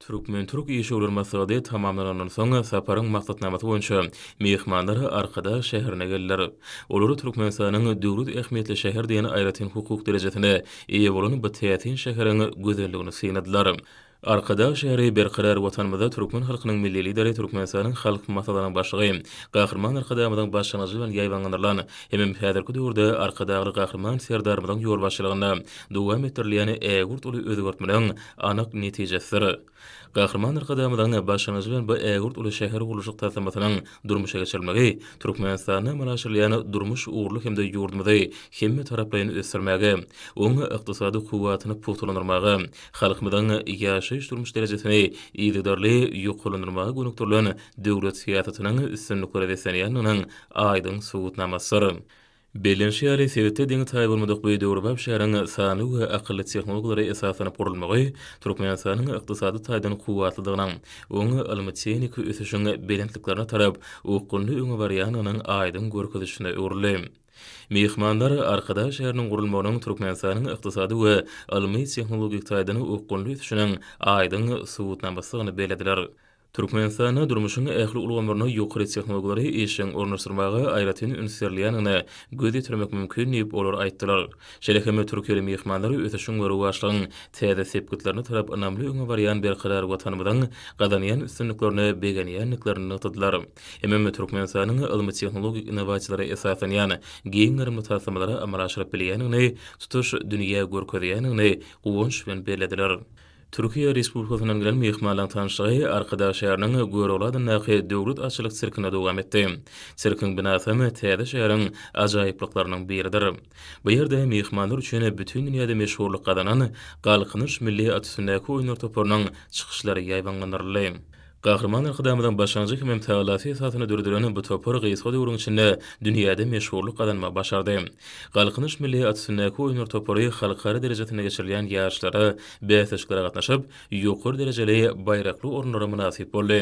Türkmen-türk işewür maslahaty tamamlanandan soň, saparyň maksatnamasy boýunça myhmanlar Arkadag şäherine geldiler. Olar Türkmenistanyň döwlet ähmiýetli şäher diýen aýratyn hukuk derejesine eýe bolan bu täsin şäheriň gözelligini synladylar. Arkadag şäheri Berkarar Watanymyzda türkmen halkynyň Milli Lideri, Türkmenistanyň Halk Maslahatynyň Başlygy Gahryman Arkadagymyzyň başlangyjy bilen ýaýbaňlandyrylan hemem häzirki döwürde Arkadagly Gahryman Serdarymyzyň ýolbaşçylygynda dowam etdirilýän ägirt uly özgertmeleň anyk netijesidir. Gahryman Arkadagymyzyň başlangyjy bilen bu ägirt uly şähergurluşyk taslamasynyň durmuşa geçirilmegi Türkmenistanda amala aşyrylýan durmuş ugurly hem-de ýurdumyzy hemmetaraplaýyn ösdürmäge, oň ykdysady kuwwatyny pugtalandyrmaga, halkymyzyň ýaşaýyş-durmuş derejesini yzygiderli ýokarlandyrmaga gönükdirilen döwlet syýasatynyň üstünliklere beslenýändiginiň aýdyň subutnamasydyr. Bellenişi ýaly, sebitde deňi taýy bolmadyk bu döwrebap şäheriň sanly we akylly tehnologiýalara esaslanyp gurulmagy Türkmenistanyň ykdysady taýdan kuwwatlydygynyň, oň ylmy-tehniki ösüşiň belentliklerine tarap okgunly öňe barýandygynyň aýdyň görkezijisine öwrüldi. Myhmanlar Arkadag şäheriniň gurulmagynyň Türkmenistanyň ykdysady we ylmy-tehnologik taýdan okgunly ösüşiniň aýdyň subutnamasydygyny bellediler. Türkmenistanda durmuşyň ähli ulgamlaryna ýokary tehnologiýalary işjeň ornaşdyrmaga aýratyn üns berilýändigine göz ýetirmek mümkin diýip, olar aýtdylar. Şeýle hem türkiýeli myhmanlar ösüşiň we rowaçlygyň täze sepgitlerine tarap ynamly öňe barýan berkarar Watanymyzyň gazanýan üstünliklerine begenýändiklerini nygtadylar hemem Türkmenistanyň ylmy-tehnologik innowasiýalara esaslanýan giň gerimli taslamalary amala aşyryp bilýändigini tutuş dünýä görkezýändigini guwanç bilen bellediler. Türkiýe Respublikasyndan gelen myhmanlaryň tanyşlygy Arkadag şäheriniň Görogly adyndaky Döwlet atçylyk sirkinde dowam etdi. Sirkiň binasy hem täze şäheriň ajaýyplyklarynyň biridir. Bu ýerde myhmanlar üçin bütin dünýäde meşhurlyk gazanan Galkynyş milli at üstündäki oýunlar toparynyň çykyşlary ýaýbaňlandyryldy. Gahryman Arkadagymyzyň başlangyjy hemem tagallasy esasynda döredilen bu topar gysga döwrüň içinde dünýäde meşhurlyk gazanmagy başardy. Galkynyş milli at üstündäki oýunlar topary halkara derejesinde geçirilýän ýaryşlara, bäsleşiklere gatnaşyp, ýokary derejeli, baýrakly orunlara mynasyp boldy.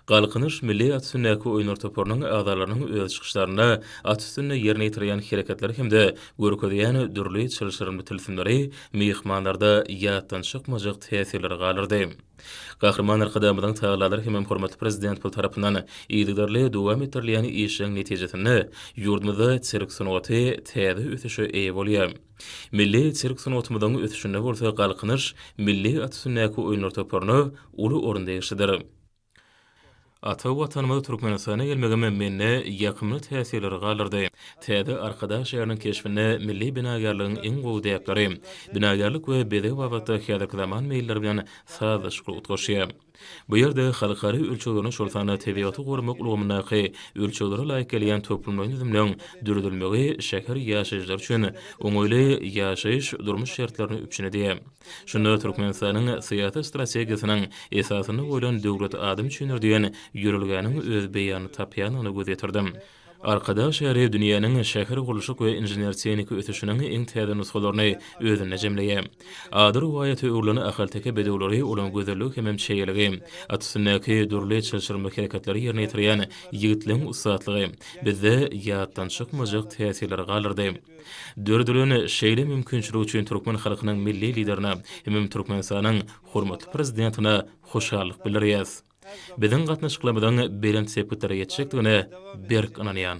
Galkynyş milli at üstündäki oýunlar toparynyň agzalarynyň öz çykyşlarynda at üstünde ýerine ýetirýän hereketleri hem-de görkezýän dürli çylşyrymly tilsimleri myhmanlarda ýatdan çykmajak täsirleri galdyrdy. Gahryman Arkadagymyzyň tagallalar hemem hormatly Prezidentimiz tarapyndan yzygiderli dowam etdirilýän işleriň netijesinde ýurdumyzda sirk sungaty täze ösüşe eýe bolýar. Milli sirk sungatymyzyň ösüşinde bolsa Galkynyş milli at üstündäki oýunlar toparyna uly orun degişlidir. Ata Watanymyz Türkmenistana gelmegim mende ýakymly täsirleri galdyrdy. Täze Arkadag şäheriniň keşbinde milli binagärligiň iň gowy däpleri, binagärlik we bezeg babatda häzirki zaman meýilleri bilen sazlaşykly utgaşýar. Bu ýerde halkara ölçeglerine, şol sanda tebigaty goramak ulgamyndaky ölçeglere laýyk gelýän toplumlaýyn düzümleň döredilmegi şäher ýaşaýjylary üçin oňaýly ýaşaýyş, durmuş şertlerini üpjün edýär. Şunda Türkmenistanyň syýasy strategiýasynyň esasynda goýlan Döwlet adam üçindir diýen ýörelgäniň öz beýanyny tapýandygyna göz ýetirdim. Arkadag şäheri dünýäniň şähergurluşyk we inžener-tehniki ösüşiniň iň täze nusgalaryny özünde jemleýär. Ady rowaýata öwrülen ahalteke bedewleri olaň gözelligi hemem çeýeligi, at üstündäki dürli çylşyrymly hereketleri ýerine ýetirýän ýigitligiň ussatlygy bizde ýatdan çykmajak täsirleri galdyrdy. Döredilen şeýle mümkinçilik üçin türkmen halkynyň Milli Liderine hemem Türkmenistanyň hormatly Prezidentine hoşallyk bildirýäs. Biziň gatnaşyklarymyzyň belent sepgitlere ýetjekdigine berk ynanýan.